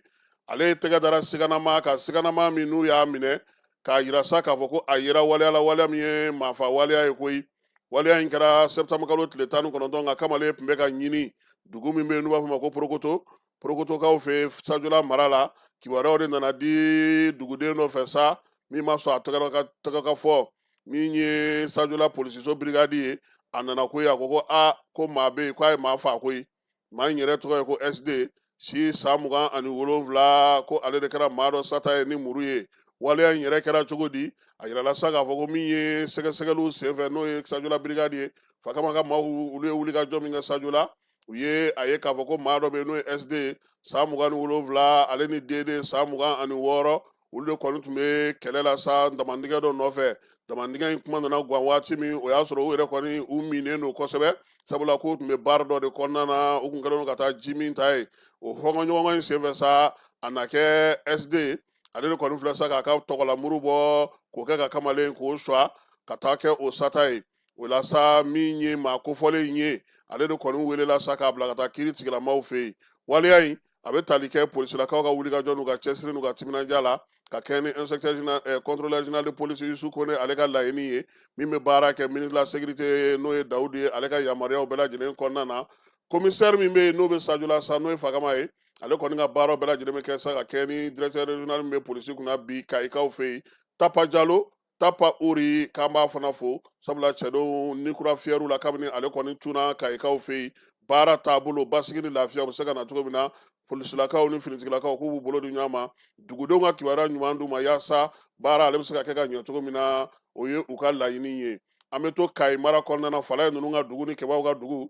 ale ye tɛgɛ dara siganamaa kan siganamaa min n'u y'a minɛ k'a yira sa k'a fɔ ko a yera waleya la waleya min ye maafa waleya ye koyi waleya in kɛra sɛtanburukalo tile tan ni kɔnɔntɔn nka kamalen tun bɛ ka ɲini dugu min bɛ yen n'u b'a fɔ ma ko porokoto porokotokaw fɛ sajula mara la kibaruyaw de nana di duguden dɔ fɛ sa min ma sɔn a tɔgɔ ka fɔ min ye sajula polisiso birikadi ye a nana koyi a ko ko a ko maa bɛ yen k'a ye maa faa koyi maa in yɛrɛ tɔgɔ ye ko sd si san mugan ani wolonwula ko ale de kɛra maa dɔ sata ye ni muru ye waleya in yɛrɛ kɛra cogo di a yirala sa k'a fɔ ko min ye sɛgɛsɛgɛliw senfɛ n'o ye sajula birikadi ye fakama ka maaw olu ye wulikajɔ min kɛ sajula u ye a ye k'a fɔ ko maa dɔ bɛ yen n'o ye sd san mugan ni wolonwula ale ni dd san mugan ani wɔɔrɔ olu de kɔni tun bɛ kɛlɛ la sa damandingɛ dɔ nɔfɛ damandingɛ in kuma nana gan waati min o y'a sɔrɔ u yɛrɛ kɔni u minnen don kosɛbɛ sabula k'u tun bɛ baari dɔ de kɔnɔna na u tun kɛlen don ka taa ji min ta ye o hɔngɔnɲɔgɔn in senfɛ sa a na kɛ sd ale de kɔni filɛ sa k'a ka tɔgɔlamuru bɔ k'o kɛ ka kamalen k'o suwa ka taa kɛ o sata ye o la sa min ye maa kofɔlen in ye ale de kɔni welela sa k'a bila ka taa kiri tigilamaw fɛ yen waleya in a bɛ tali kɛ polisilakaw ka wulikajɔ n'u ka cɛsiri n'u ka timinanja la ka kɛɲɛ ni inspecteur général eh, contrôleur général de police Yusu Kone ale ka laɲini ye min bɛ baara kɛ ministre de la sécurité n'o ye Dawudu ye ale ka yamaruyaw bɛɛ lajɛlen kɔnɔna na commissaire min bɛ yen n'o bɛ Sajula sa n'o ye Fagama ye ale kɔni ka baaraw bɛɛ lajɛlen bɛ kɛ sa ka kɛɲɛ ni directeur régional min bɛ polisi kunna bi Kayikaw fɛ yen Tapa Jalo tapa uri k'an b'a fana fo sabula cɛdenw ni kura fiyɛr'u la kabini ale kɔni tunna kayikaw fɛ yen baara taabolo basigi ni lafiya o bɛ se ka na cogo min na polisilakaw ni finitigilakaw k'u b'u bolo di ɲɔgɔn ma dugudenw ka kibaruya ɲuman d'u ma yaasa baara ale bɛ se ka kɛ ka ɲɛ cogo min na o ye u ka laɲini ye an bɛ to kayi mara kɔnɔna na falaye ninnu ka dugu ni kɛbaw ka dugu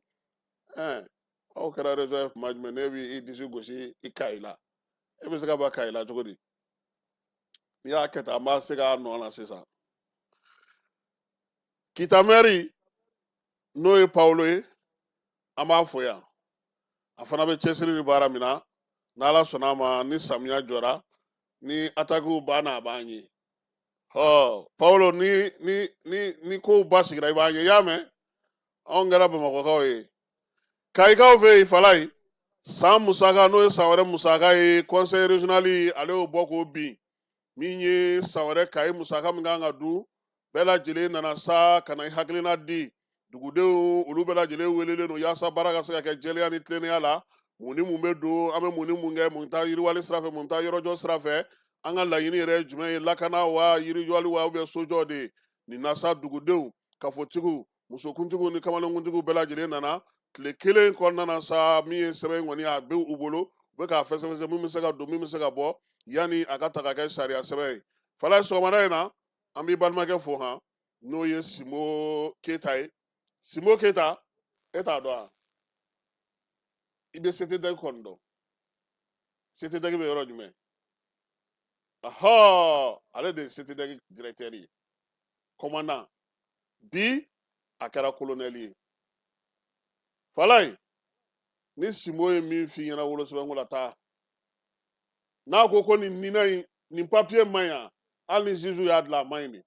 ɛɛ aw kɛra réseau ye kuma jumɛn ne b'i disi gosi i kayi la e bɛ se ka bɔ kayi la cogo di n'i y'a kɛ tan an b'a se k'a nɔ la sisan kita mɛri n'o ye pawulo ye an b'a fo yan a fana bɛ cɛsiri ni baara min na n'ala sɔnna a ma ni samiya jɔra ni atakiw banna a b'an ye ɔ pawulo ni ni ni ni kow basigira i b'an ye i y'a mɛn anw kɛra bamakɔkaw ye Kayikaw fɛ yen falaye san musaka n'o ye san wɛrɛ musaka ye conseil régional ale y'o bɔ k'o bin min ye san wɛrɛ kayi musaka min kan ka dun bɛɛ lajɛlen nana sa ka na i hakilina di dugudenw olu bɛɛ lajɛlen welelen don yaasa baara ka se ka kɛ jɛlenya ni tilennenya la mun ni mun bɛ don an bɛ mun ni mun kɛ mun taa yiriwali sira fɛ mun taa yɔrɔjɔ sira fɛ an ka laɲini yɛrɛ jumɛn ye lakana wa yiriwali wa bɛ sojɔ de nin na sa dugudenw kafotigiw musokuntigiw ni kamalenkuntigiw bɛɛ lajɛlen nana tile kelen kɔnɔna na sa min ye sɛbɛn kɔni a bɛ u bolo u bɛ k'a fɛsɛfɛsɛ min bɛ se ka don min bɛ se ka bɔ yanni a ka taa ka kɛ sariya sɛbɛn ye falayi sɔgɔmada in na an b'i balimakɛ fo han n'o ye simbo keyita ye simbo keyita e t'a dɔn wa i bɛ CTDEC kɔni dɔn CTDEC bɛ yɔrɔ jumɛn ɔnhɔn ale de ye CTDEC dirɛtɛri ye kɔmandan bi a kɛra kolonɛli ye falayi ni simbo ye min f'i ɲɛna wolosɛbɛnko la taa n'a ko ko nin nina in nin papiye man ɲi hali ni juge y'a dilan a man ɲi dɛ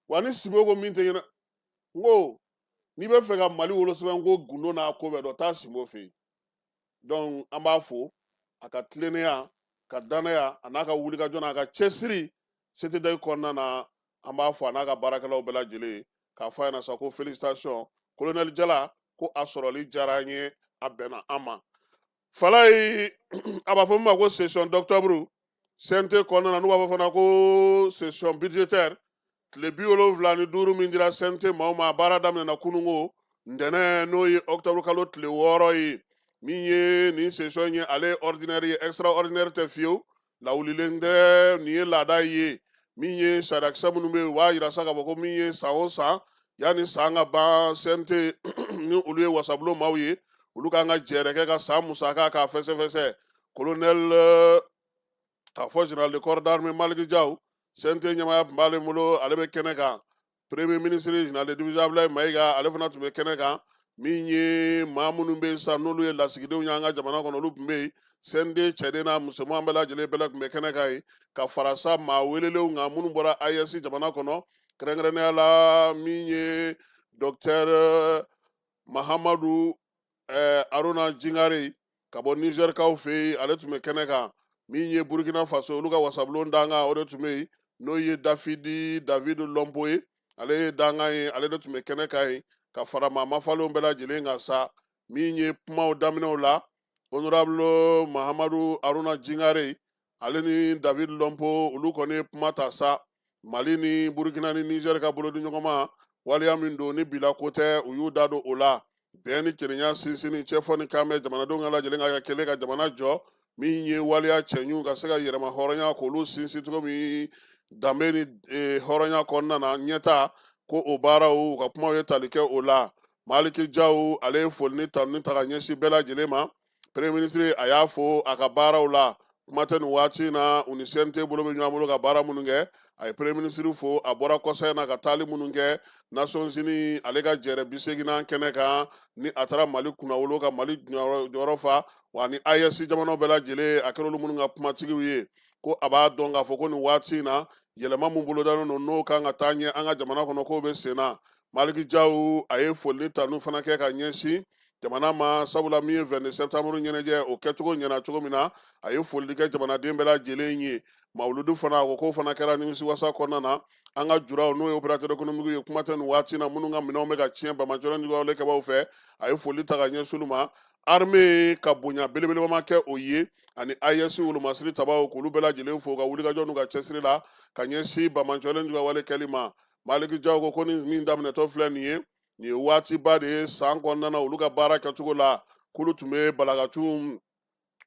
wa ni simbo ko min tɛ ɲɛna n ko n'i bɛ fɛ ka mali wolosɛbɛnko gundo n'a ko bɛɛ dɔn taa simbo fɛ yen dɔnku an b'a fo a ka tilennenya a ka dannaya a n'a ka wulikajɔ n'a ka cɛsiri CTDEC kɔnɔna na an b'a fo a n'a ka baarakɛlaw bɛɛ lajɛlen k'a fɔ a ɲɛna sa ko felicitation kolonɛli jala ko a sɔrɔli diyara an ye a bɛnna an ma falayi a b'a fɔ min ma ko session d'octobre CNT kɔnɔna na n'u b'a fɔ fana ko session budgétaire tile bi wolonwula ni duuru min dira CNT maaw ma a baara daminɛna kununko ntɛnɛn n'o ye octobre kalo tile wɔɔrɔ ye min ye nin session ye ale ye ordinaire ye extraordinaire tɛ fiyewu lawulilen tɛ nin ye laada ye min ye sariyakisɛ minnu bɛ yen u b'a yira sa k'a fɔ ko min ye san o san yanni san ka ban CNT ni olu ye wasabulon maaw ye olu kan ka jɛɛrɛ kɛ ka san musaka k'a fɛsɛfɛsɛ kolonɛli k'a fɔ general de corps d'armée Maliki Jaw CNT ɲɛmaaya tun b'ale bolo ale bɛ kɛnɛ kan premier ministre général de division abdoulaye mayiga ale fana tun bɛ kɛnɛ kan min ye maa minnu bɛ yen sisan n'olu ye lasigidenw y'an ka jamana kɔnɔ olu tun bɛ yen CNT cɛden n'a musoman bɛɛ lajɛlen bɛɛ de tun bɛ kɛnɛ kan yen ka fara sa maa welelenw kan minnu bɔra AES jamana kɔnɔ kɛrɛnkɛrɛnnenya la min ye dɔktɛr mahamadu ɛɛ aruna jingare ka bɔ nizɛrikaw fɛ yen ale tun bɛ kɛnɛ kan min ye burukina faso olu ka wasabulon dankan o de tun bɛ yen n'o ye dafidi david lɔnpo ye ale ye dankan ye ale de tun bɛ kɛnɛ kan yen ka fara maa mafalenw bɛɛ lajɛlen kan sa min ye kumaw daminɛw la honorable mahamadu aruna jingare ale ni david lɔnpo olu kɔni ye kuma ta sa mali ni burukina ni nizɛri ka bolodiɲɔgɔnma waleya min don ni bilako tɛ u y'u da don o la bɛn ni kelenya sinsinni jɛfɔ ni kanbɛn jamanadenw ka lajɛlen ka kɛ kelen ka jamana jɔ min ye waleya cɛɲiw ka se ka yɛrɛmahɔrɔnya k'olu sinsin cogo min danbe ni e, hɔrɔnya kɔnɔna na ɲɛtaa ko o baaraw u ka kumaw ye tali kɛ o la maliki jaw ale ye foli ni tanuni ta ka ɲɛsin bɛɛ lajɛlen ma Premier ministre a y'a fɔ a ka baaraw la kuma tɛ nin waati in na u ni CNT bolo bɛ ɲɔgɔn bolo ka baara minnu kɛ a ye premier ministre fo a bɔra kɔsa in na ka taali minnu kɛ Nations Unies ale ka jɛrɛ bi seginnan kɛnɛ kan ni a taara mali kunnawolo ka mali jɔyɔrɔ fa wa ni AES jamanaw bɛɛ lajɛlen a kɛra olu minnu ka kumatigiw ye ko a b'a dɔn k'a fɔ ko nin waati in na yɛlɛma min bolodalen don n'o kan ka taa ɲɛ an ka jamana kɔnɔ k'o bɛ sen na maliki jaw a ye foli ni tanu fana kɛ ka ɲɛsin jamana ma sabula min ye 22 septembre ɲɛnajɛ o kɛcogo ɲɛna cogo min na a ye foli kɛ jamanaden bɛɛ lajɛlen ye mawuludu fana a ko k'o fana kɛra nimisiwasa kɔnɔna na an ka juraw n'o ye opérateur économique ye kuma tɛ nin waati na minnu ka minɛnw bɛ ka tiɲɛ bamajɔlɔ nigawale kɛbaw fɛ a ye foli ta ka ɲɛsin olu ma armée ka bonya belebelebama kɛ o ye ani AES wolomasiri tabaw k'olu bɛɛ lajɛlen fo ka wulikajɔ n'u ka cɛsiri la ka ɲɛsin bamajɔlen nigawale kɛli ma maliki jaw ko ko ni min daminɛtɔ filɛ nin ye nin ye waatiba de ye san kɔnɔna na olu ka baara kɛcogo la k'olu tun bɛ balakacun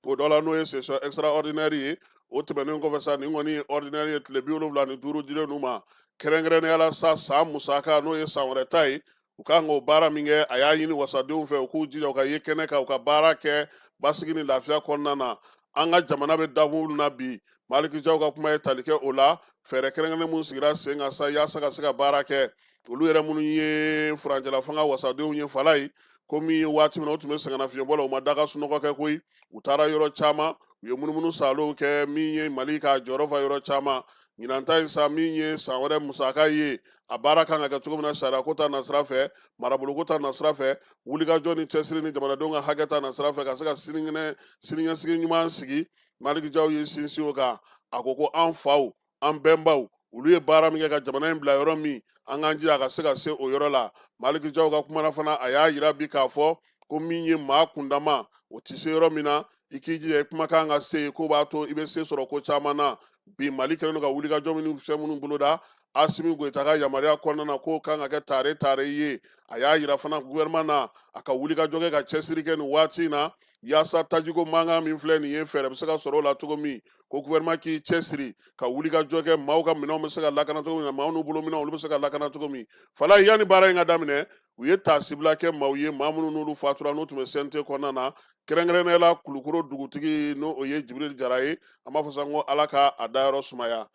o dɔ la n'o ye session extraordinaire ye o tɛmɛnen kɔfɛ sa nin kɔni ye ordinaire ye tile bi wolonwula ni duuru dilen n'u ma kɛrɛnkɛrɛnnenya la sa san musaka n'o ye san wɛrɛ ta ye u ka kan k'o baara min kɛ a y'a ɲini wasadenw fɛ u k'u jija u ka ye kɛnɛ kan u ka baara kɛ basigi ni lafiya kɔnɔna na an ka jamana bɛ dabolo na bi maliki jaw ka kuma ye tali kɛ o la fɛɛrɛ kɛrɛnkɛrɛnnen minnu sigira sen kan sa yaasa ka se ka baara kɛ olu yɛrɛ minnu ye furancɛla fanga wasadenw ye falaye ko min ye waati min na u tun bɛ sɛgɛnnafiɲɛbɔ la u ma da ka sunɔgɔ kɛ koyi u taara yɔrɔ caman u ye munumunu salow kɛ min ye mali ka jɔyɔrɔ fa yɔrɔ caman ɲinan ta in sa min ye san wɛrɛ musaka ye a baara kan ka kɛ cogo min na sariya ko ta nasira fɛ maraboloko ta nasira fɛ wulikajɔ ni cɛsiri ni jamanadenw ka hakɛ ta nasira fɛ ka se ka siniɲɛsigi ɲuman sigi maliki jaw ye sinsin o kan a ko ko an faw an bɛnbaw olu ye baara min kɛ ka jamana in bila yɔrɔ min an k'an jija a ka se ka se o yɔrɔ la maliki jaw ka kuma na fana a y'a yira bi k'a fɔ ko min ye maa kundama o tɛ se yɔrɔ min na i k'i jija i kumakan ka se yen k'o b'a to i bɛ se sɔrɔ ko caman na bi mali kɛlen don ka wulikajɔ minnu fɛn minnu boloda asimi goyita ka yamaruya kɔnɔna na k'o kan ka kɛ tare tare ye a y'a yira fana guvɛrɛman na a ka wulikajɔ kɛ ka cɛsiri kɛ nin waati in na yaasa tajiko mankan min filɛ nin ye fɛɛrɛ bɛ se ka sɔrɔ o la cogo min ko gouvernement k'i cɛsiri ka wulikajɔ kɛ maaw ka minɛnw bɛ se ka lakana cogo min na maaw n'u bolo minɛnw olu bɛ se ka lakana cogo min falaye yanni baara in ka daminɛ u ye taasibila kɛ maaw ye maa minnu n'olu fatura n'u tun bɛ CNT kɔnɔna na kɛrɛnkɛrɛnnenya la kulukoro dugutigi n'o ye jibirili jara ye an b'a fɔ sa ko ala ka a dayɔrɔ sumaya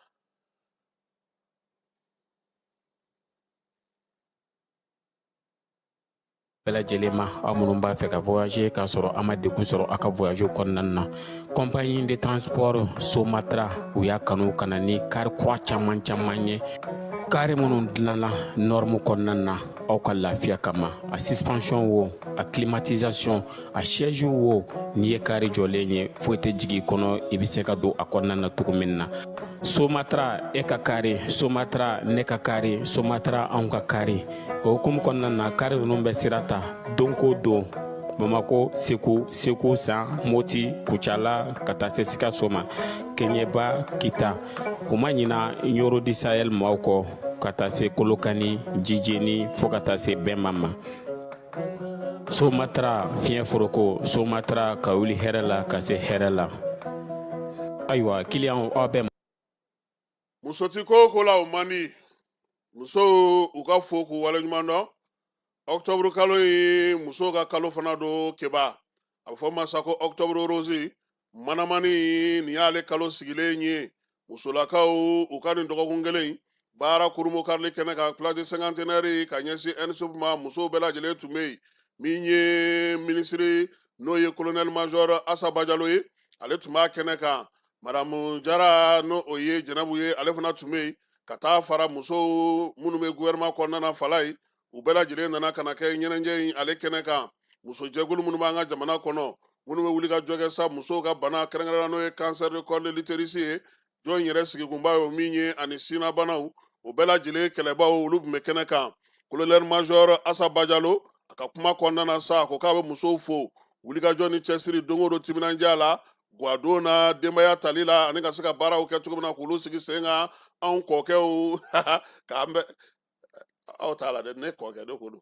bɛɛ lajɛlen ma aw minnu b'a fɛ ka voyager k'a sɔrɔ a ma degun sɔrɔ a ka voyage kɔnɔna na compagnie de transport somatra u y'a kanu ka na ni kari kura caman caman ye kari minnu dilanna nɔrmu kɔnɔna na aw ka lafiya kama a suspension wo a climatisation a siège wo n'i ye kari jɔlen ye foyi tɛ jigin kɔnɔ i bɛ se ka don a kɔnɔna na cogo min na somatara e ka kari somatara ne ka kari somatara anw ka kari o hukumu kɔnɔna na kari ninnu bɛ sira ta don ko don bamako segu segu san moti kucala ka taa se sikaso ma keɲɛba kita u ma ɲina ɲɔrɔ di sahɛl maaw kɔ ka taa se kolokani jijeni fɔɔ ka taa se bɛnma ma somatara fiɲɛ foroko somatara ka wuli hɛrɛ la ka se hɛrɛ la ayiwa kiliyan aw bɛɛ muso ti ko ko la o man di musow u ka fo k'u waleɲuman dɔn ɔktɔburu kalo ye musow ka kalo fana don kɛ ba a bɛ fɔ ma sa ko ɔktɔburu rose manamani nin y'ale kalo sigilen ye musolakaw u ka nin dɔgɔkun kelen baara kurunbonkarili kɛnɛ kan place de cinquantenaire ka ɲɛsin ensup ma musow bɛɛ lajɛlen tun bɛ yen min ye minisiri n'o ye kolonɛli mazɔr asa bajalo ye ale tun b'a kɛnɛ kan madamu jara n'o o ye jɛnɛbu ye ale fana tun bɛ yen ka taa fara musow minnu bɛ gouvernement kɔnɔna na falayi u bɛɛ lajɛlen nana ka na kɛ ɲɛnajɛ in ale kɛnɛ kan musojɛkulu minnu b'an ka jamana kɔnɔ minnu bɛ wulikajɔ kɛ sa musow ka bana kɛrɛnkɛrɛnna n'o ye cancer de col de l'utérus ye jɔn in yɛrɛ sigikunba ye o min ye ani sinnabanaw o bɛɛ lajɛlen kɛlɛbaw olu tun bɛ kɛnɛ kan colonel major asa bajalo a ka kuma kɔnɔna na sa a ko k'a bɛ musow fo wulikajɔ ni cɛsiri don o don timinandiya la guwadon na denbaya tali la ani ka se ka baaraw kɛ cogo min na k'olu sigi sen kan anw kɔkɛw k'an bɛ aw t'a la dɛ ne kɔkɛ de ko don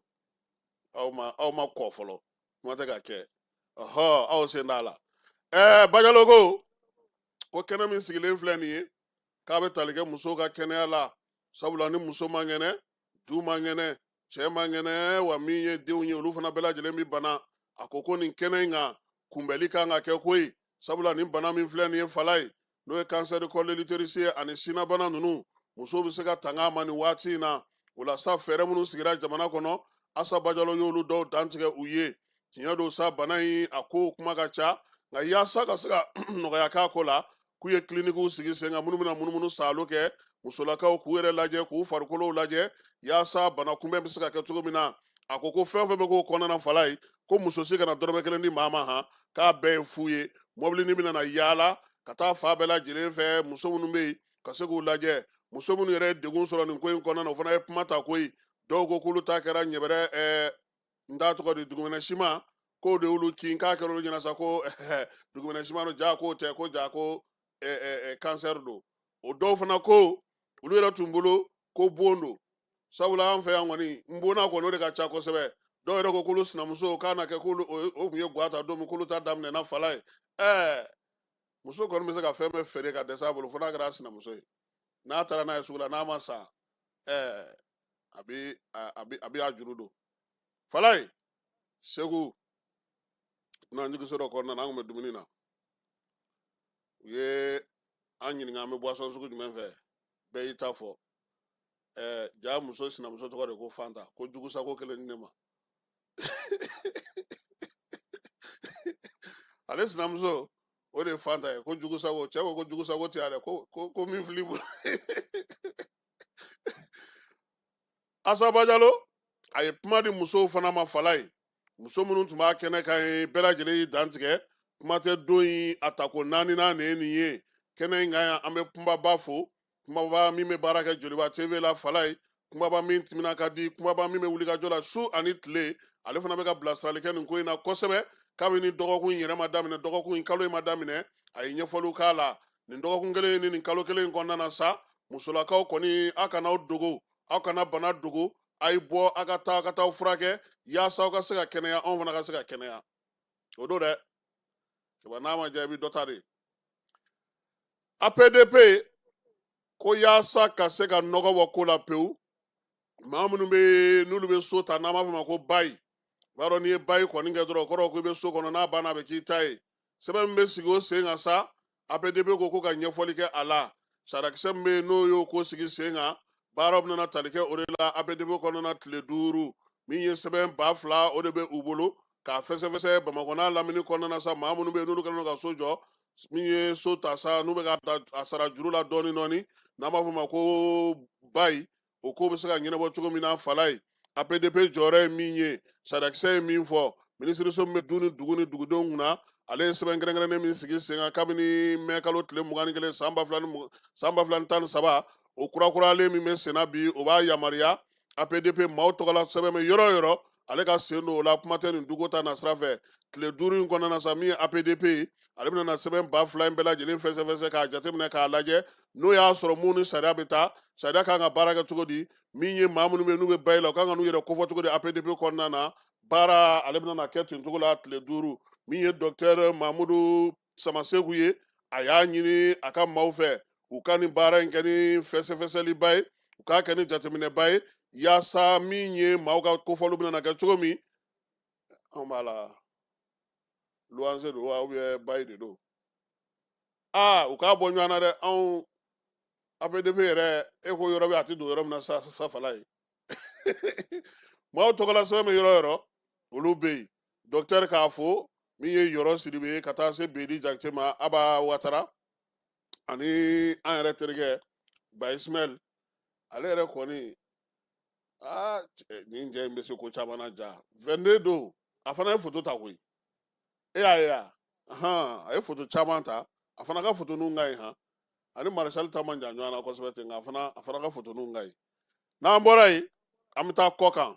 aw ma aw ma kɔ fɔlɔ kuma tɛ ka kɛ ɔhɔ aw sen t'a la ɛɛ bajalo ko ko kɛnɛ min sigilen filɛ nin ye k'a bɛ tali kɛ musow ka kɛnɛya la sabula ni muso man kɛnɛ du man kɛnɛ cɛ man kɛnɛ wa min ye denw ye olu fana bɛɛ lajɛlen bɛ bana a ko ko nin kɛnɛ in kan kunbɛli ka kan ka kɛ koyi sabula nin bana min filɛ nin ye falayi n'o ye cancer de col de l'utérus ye ani sinnabana ninnu muso bɛ se ka tanga ma nin waati in na o la sa fɛɛrɛ minnu sigira jamana kɔnɔ asa bajalo y'olu dɔw dantigɛ u ye tiɲɛ don sa bana in a ko kuma ka ca nka yaasa ka se ka nɔgɔya k'a ko la k'u ye kilinikiw sigi sen kan minnu bɛna munumunu saalo kɛ musolakaw k'u yɛrɛ lajɛ k'u farikolow lajɛ yaasa bana kunbɛn bɛ se ka kɛ cogo min na a ko ko fɛn o fɛn bɛ k'o kɔnɔna falayi ko muso si kana dɔrɔmɛ kelen di maa ma han k'a bɛɛ ye fu ye mɔbili nin bɛna na yaala ka taa fan bɛɛ lajɛlen fɛ muso minnu bɛ yen ka se k'u lajɛ muso minnu yɛrɛ ye degun sɔrɔ nin ko in kɔnɔna na o fana ye kuma ta koyi dɔw ko k'olu ta kɛra ɲɛbɛrɛ ɛɛ n t'a tɔgɔ di dugumɛnɛ siman k'o de y'olu kin k'a kɛra olu ɲɛna sa ko dugumɛnɛ siman don jaa k'o tɛ ko jaa ko kansɛri don o dɔw fana ko olu yɛrɛ tun bolo ko bon don sabula an fɛ yan kɔni n bonna kɔni o de ka ca kosɛbɛ dɔw yɛrɛ ko k'olu sinamuso k'a na kɛ ko o tun ye gwa ta don min k'olu ta daminɛna falaye ɛɛ muso kɔni bɛ se ka fɛn bɛɛ feere ka dɛsɛ a bolo fo n'a kɛra a sinamuso ye n'a taara n'a ye sugu la n'a ma san ɛɛ a bɛ a bɛ a bɛ a juru don falaye segu n'an jigiso dɔ kɔnɔna na an tun bɛ dumuni na u ye an ɲininka an bɛ buwasɔn sugu jumɛn fɛ bɛɛ y'i ta fɔ ɛɛ ja muso sinamuso tɔgɔ de ko fanta ko jugusago kelen di ne ma ale sinamuso o de ye fanta ye ko jugusago cɛ ko ko jugusago tɛ ale ko ko ko min fili bolo asa bajalo a ye kuma di musow fana ma falaye muso minnu tun b'a kɛnɛ kan ye bɛɛ lajɛlen y'i dantigɛ kuma tɛ don in a tako naaninan de ye nin ye kɛnɛ in kan yan an bɛ kumba ba fo kumba ba min bɛ baara kɛ joliba tv la falaye kumba ba min timina ka di kumba ba min bɛ wulikajɔ la su ani tile ale fana bɛ ka bilasirali kɛ nin ko in na kosɛbɛ kabini dɔgɔkun in yɛrɛ ma daminɛ dɔgɔkun in kalo in ma daminɛ a ye ɲɛfɔliw k'a la nin dɔgɔkun kelen ni nin kalo kelen in kɔnɔna na sa musolakaw kɔni aw kana aw dogo aw kana bana dogo a ye bɔ a ka taa ka taa furakɛ yaasa aw ka se ka kɛnɛya anw fana ka se ka kɛnɛya o don dɛ cɛba n'a ma diya i bɛ dɔ ta de apdp ko yaasa ka se ka nɔgɔ bɔ ko la pewu maa minnu bɛ n'olu bɛ so ta n'an b'a fɔ ma ko bayi i b'a dɔn n'i ye bayi kɔni kɛ dɔrɔn o kɔrɔ ko i bɛ so kɔnɔ n'a banna a bɛ k'i ta ye sɛbɛn min bɛ sigi o sen kan sa apdp ko ko ka ɲɛfɔli kɛ a la sarakisɛ min bɛ yen n'o y'o ko sigi sen kan baaraw bɛna tali kɛ o de la apdp kɔnɔna tile duuru min ye sɛbɛn ba fila o de bɛ u bolo k'a fɛsɛfɛsɛ bamakɔ n'a lamini kɔnɔna sa maa minnu bɛ yen n'olu kɛlen ka so jɔ min ye so ta sa n'u bɛ ka a sara juru la dɔɔnin dɔɔnin n'an b'a fɔ ma ko bayi o ko bɛ se ka ɲɛnabɔ cogo min na falaye apdp jɔyɔrɔ ye min ye sarakisɛ ye min fɔ minisiriso min bɛ du ni dugu ni dugudenw kunna ale ye sɛbɛn kɛrɛnkɛrɛnnen min sigi sen kan kabini mɛ kalo tile mugan ni kelen san ba fila ni tan ni saba o kurakuralen min bɛ senna bi o b'a yamaruya apdp maaw tɔgɔla sɛbɛn bɛ yɔrɔ o yɔrɔ ale ka sen don o la kuma tɛ nin duko ta nasira fɛ tile duuru in kɔnɔna na sa min ye apdp ye ale bɛna sɛbɛn ba fila in bɛɛ lajɛlen fɛsɛfɛsɛ k'a jateminɛ k'a lajɛ n'o y'a sɔrɔ mun ni sariya bɛ taa sariya kan ka baara kɛ cogo di min ye maa minnu bɛ n'u bɛ bayi la u kan ka n'u yɛrɛ kofɔ cogo di apdp kɔnɔna na baara ale bɛna kɛ ten cogo la tile duuru min ye dɔkitɛri mamudu samaseku ye a y'a ɲini a ka maaw fɛ u ka nin baara in kɛ ni fɛsɛfɛsɛliba ye u k'a kɛ ni jateminɛba ye yaasa min ye maaw ka kofɔli bɛna kɛ cogo min anw b'a la luwanse don wa ubiyɛn bayi de don aa u k'a bɔ ɲɔgɔn na dɛ anw apdp yɛrɛ e ko yɔrɔ bɛ a tɛ don yɔrɔ min na sa fala ye maaw tɔgɔla sɛbɛn bɛ yɔrɔ yɔrɔ olu bɛ yen dɔkitɛri k'a fo min ye yɔrɔ sidibe ye ka taa se bedi jakite ma aba watara ani an yɛrɛ terikɛ ba ismail ale yɛrɛ kɔni aa nin cɛ in bɛ se ko caman na ja 22 don a fana ye foto ta koyi e y'a ye a a ye foto caman ta a fana ka foto ninnu ka ɲi han ani marisali ta man jan ɲɔgɔn na kosɛbɛ ten nka a fana ka foto ninnu ka ɲi n'an bɔra yen an bɛ taa kɔ kan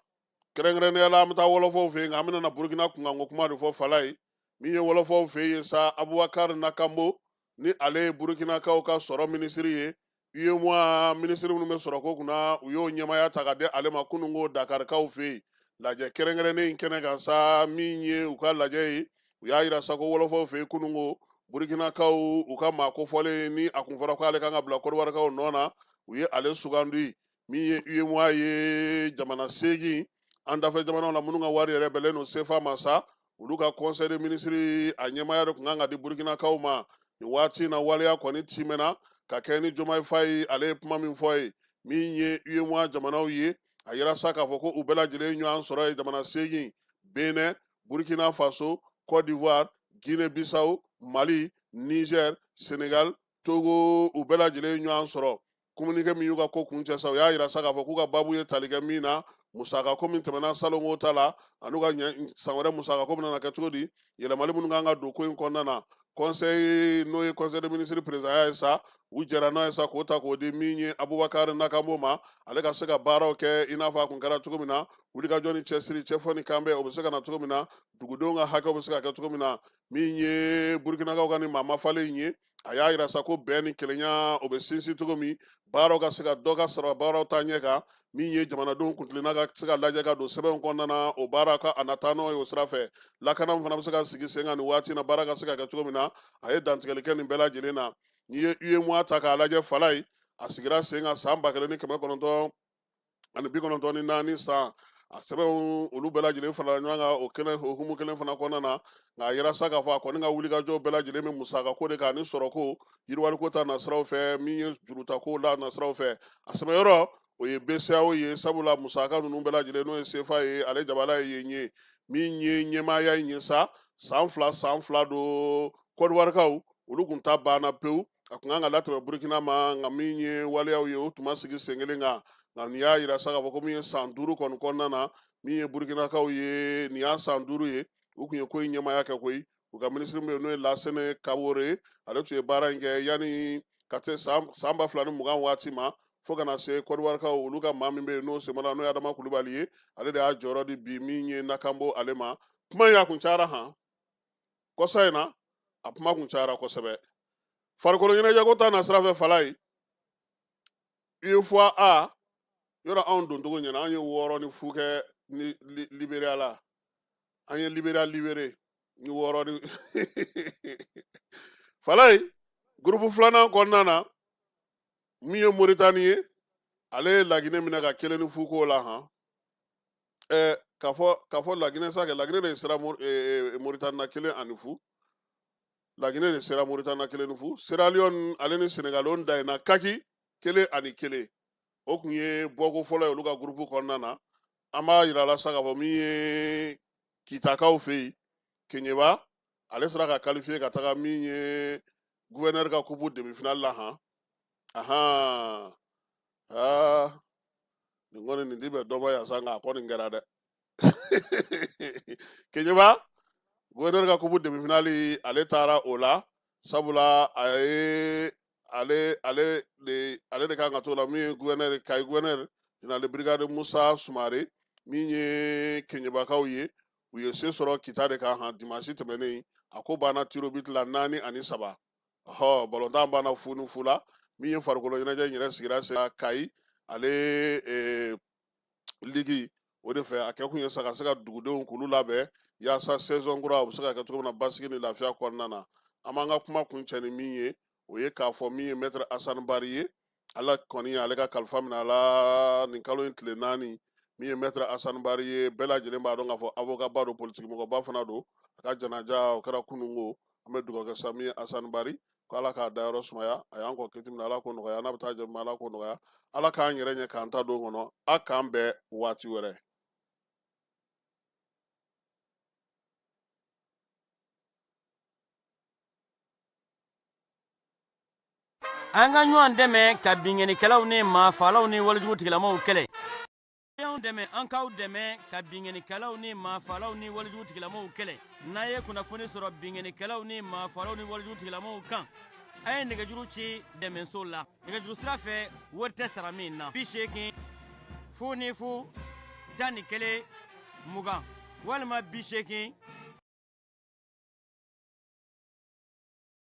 kɛrɛnkɛrɛnnenya la an bɛ taa wɔlɔfɔw fɛ yen nka an bɛna burukina kunkanko kuma de fɔ fala ye min ye wɔlɔfɔw fɛ yen sa abubakari nakanbo ni ale ye burukinakaw ka sɔrɔ minisiri ye UEMOA minisiri minnu bɛ sɔrɔko kunna u y'o ɲɛmaya ta ka di ale ma kununko Dakarikaw fɛ yen lajɛ kɛrɛnkɛrɛnnen in kɛnɛ kan sa min ye u ka lajɛ ye u y'a jira sa ko wɔlɔfɔw fɛ yen kununko Burukinakaw u ka maa kofɔlen ni a kun fɔra ko ale kan ka bila Kɔdiwarikaw nɔ na u ye ale sugandi min ye UEMOA ye jamana seegin an dafɛ jamanaw la minnu ka wari yɛrɛ bɛnlen don CFA ma sa olu ka kɔnsɛyi de minisiri a ɲɛmaya de kun kan ka di burukinakaw ma nin waati in na waleya kɔni timɛna ka kɛ ni jomayi fayi ale ye kuma min fɔ ye min ye uemoa jamanaw ye a yira sa k'a fɔ ko u bɛɛ lajɛlen ɲɔgɔn sɔrɔ ye jamana seegin bénin burkina faso cote d'ivoire guinée bissau mali niger senegal togo u bɛɛ lajɛlen ɲɔgɔn sɔrɔ kominikɛ min y'u ka ko kuncɛ sa u y'a yira sa k'a fɔ k'u ka baabu ye tali kɛ min na musaka ko min tɛmɛna salonko ta la an'u ka san wɛrɛ musaka ko bɛna kɛ cogo di yɛlɛmali minnu kan ka don ko in kɔnɔna na kɔnsɛyi n'o ye kɔnsɛyi de minisiri perezanya ye sa u jɛra n'a ye sa k'o ta k'o di min ye abubakari nakanbo ma ale ka se ka baaraw kɛ i n'a fɔ a kun kɛra cogo min na wulikajɔ ni cɛsiri cɛfɔ ni kanbɛn o bɛ se ka na cogo min na dugudenw ka hakɛw bɛ se ka kɛ cogo min na min ye burukinakaw ka nin maa mafalen in ye a y'a jira sa ko bɛn ni kelenya o bɛ sinsin cogo min baaraw ka se ka dɔ ka sɔrɔ baaraw taaɲɛ kan min ye jamanadenw kuntilenna ka se ka lajɛ ka don sɛbɛnw kɔnɔna na o baara ka a nataa n'o ye o sira fɛ lakana fana bɛ se ka sigi sen kan nin waati na baara ka se ka kɛ cogo min na a ye dantigɛli kɛ nin bɛɛ lajɛlen na n'i ye uemoa ta k'a lajɛ fala ye a sigira sen kan san ba kelen ni kɛmɛ kɔnɔntɔn ani bi kɔnɔntɔn ni naani san a sɛbɛnw olu bɛɛ lajɛlen farala ɲɔgɔn kan o kelen hukumu kelen fana kɔnɔna na nka a yira sa k'a fɔ a kɔni ka wulikajɔ bɛɛ lajɛlen bɛ musaka ko de kan ani sɔrɔko yiriwaliko ta nasiraw fɛ min ye jurutako la nasiraw fɛ a sɛmɛyɔrɔ o ye BCEAO ye sabula musaka ninnu bɛɛ lajɛlen n'o ye CFA ye ale jabala ye yen ye min ye ɲɛmaaya in ye sa san fila san fila don kɔdiwarikaw olu kun ta banna pewu a kun kan ka latɛmɛ burukina ma nka min ye waleyaw ye o tun ma sigi sen kelen kan nka nin y'a jira sa k'a fɔ ko min ye san duuru kɔni kɔnɔna na min ye burukinakaw ye nin y'a san duuru ye u kun ye ko in ɲɛmaaya kɛ koyi u ka minisiri min bɛ yen n'o ye lasene kabore ye ale tun ye baara in kɛ yanni ka se san san ba fila ni mugan waati ma fo ka na se kɔdiwarikaw olu ka maa min bɛ yen n'o semana n'o ye adama kulubali ye ale de y'a jɔyɔrɔ di bi min ye nakanabo ale ma kuma in a kun cayara han kɔsa in na a kuma kun cayara kosɛbɛ farikolo ɲɛnajɛko ta nasira fɛ fala ye UFOA A yɔrɔ anw doncogo ɲɛna an ye wɔɔrɔ ni fu kɛ ni li- Liberia la an ye Liberia libere ni wɔɔrɔ ni fala ye gurupu filanan kɔnɔna na min ye Moritani ye ale ye Laginɛ minɛ ka kelen ni fu k'o la han ɛɛ k'a fɔ k'a fɔ laginɛ sa kɛ laginɛ de sera moritani na kelen ani fu laginɛ de sera moritani na kelen ni fu seraliyɔn ale ni senegali o danna kaki kelen ani kelen o kun ye bɔko fɔlɔ ye olu ka gurupu kɔnɔna na an b'a yira la sa k'a fɔ min ye kitakaw fɛ yen keɲeba ale sera ka kalifiye ka taga min ye guvɛnɛri ka kupu demifinali la han ahan aa nin kɔni nin ti bɛn dɔ ma yan sa nka a kɔni kɛra dɛ keɲeba gouverneur ka kupu demi finali ale taara o la sabula a ye ale ale de ale de kan ka to la min ye gouverneur kayi gouverneur général de brigade musa sumare min ye keɲebakaw ye u ye se sɔrɔ kita de kan han dimansi tɛmɛnen a ko banna tirobiti la naani ani saba ɔ balontan banna fu ni fu la min ye farikolo ɲɛnajɛ in yɛrɛ sigira sen kayi ale eh, ligi o de fɛ a kɛkun ye sa ka se ka dugudenw k'olu labɛn yaasa saison kura u bɛ se ka kɛ cogo min na basigi ni lafiya kɔnɔna na an b'an ka kuma kuncɛ ni min ye o ye k'a fɔ min ye mɛtɛrɛ asani bari ye ala kɔni ale ka kalifa minɛ a la nin kalo in tile naani min ye mɛtɛrɛ asani bari ye bɛɛ lajɛlen b'a dɔn k'a fɔ awokaba don politikimɔgɔba fana don a ka janaja o kɛra kununko an bɛ dugawu kɛ sa min ye asani bari ko ala k'a dayɔrɔ sumaya a y'an kɔn kiti min na ala k'o nɔgɔya n'a bɛ taa jɛma ala k'o nɔgɔya ala k'an yɛrɛ ɲɛ k'an ta don kɔnɔ a k'an bɛn waati wɛrɛ an ka ɲɔgɔn dɛmɛ ka binkannikɛlaw ni maafalaw ni walejugu tigilamaaw kɛlɛ dɛmɛ an k'aw dɛmɛ ka binkannikɛlaw ni maafalaw ni walejugu tigilamaaw kɛlɛ n'a ye kunnafoni sɔrɔ binkannikɛlaw ni maafalaw ni walejugu tigilamaaw kan a ye nɛgɛjuru ci dɛmɛso la nɛgɛjuru sira fɛ wari tɛ sara min na bi seegin fu ni fu tan ni kelen mugan walima bi seegin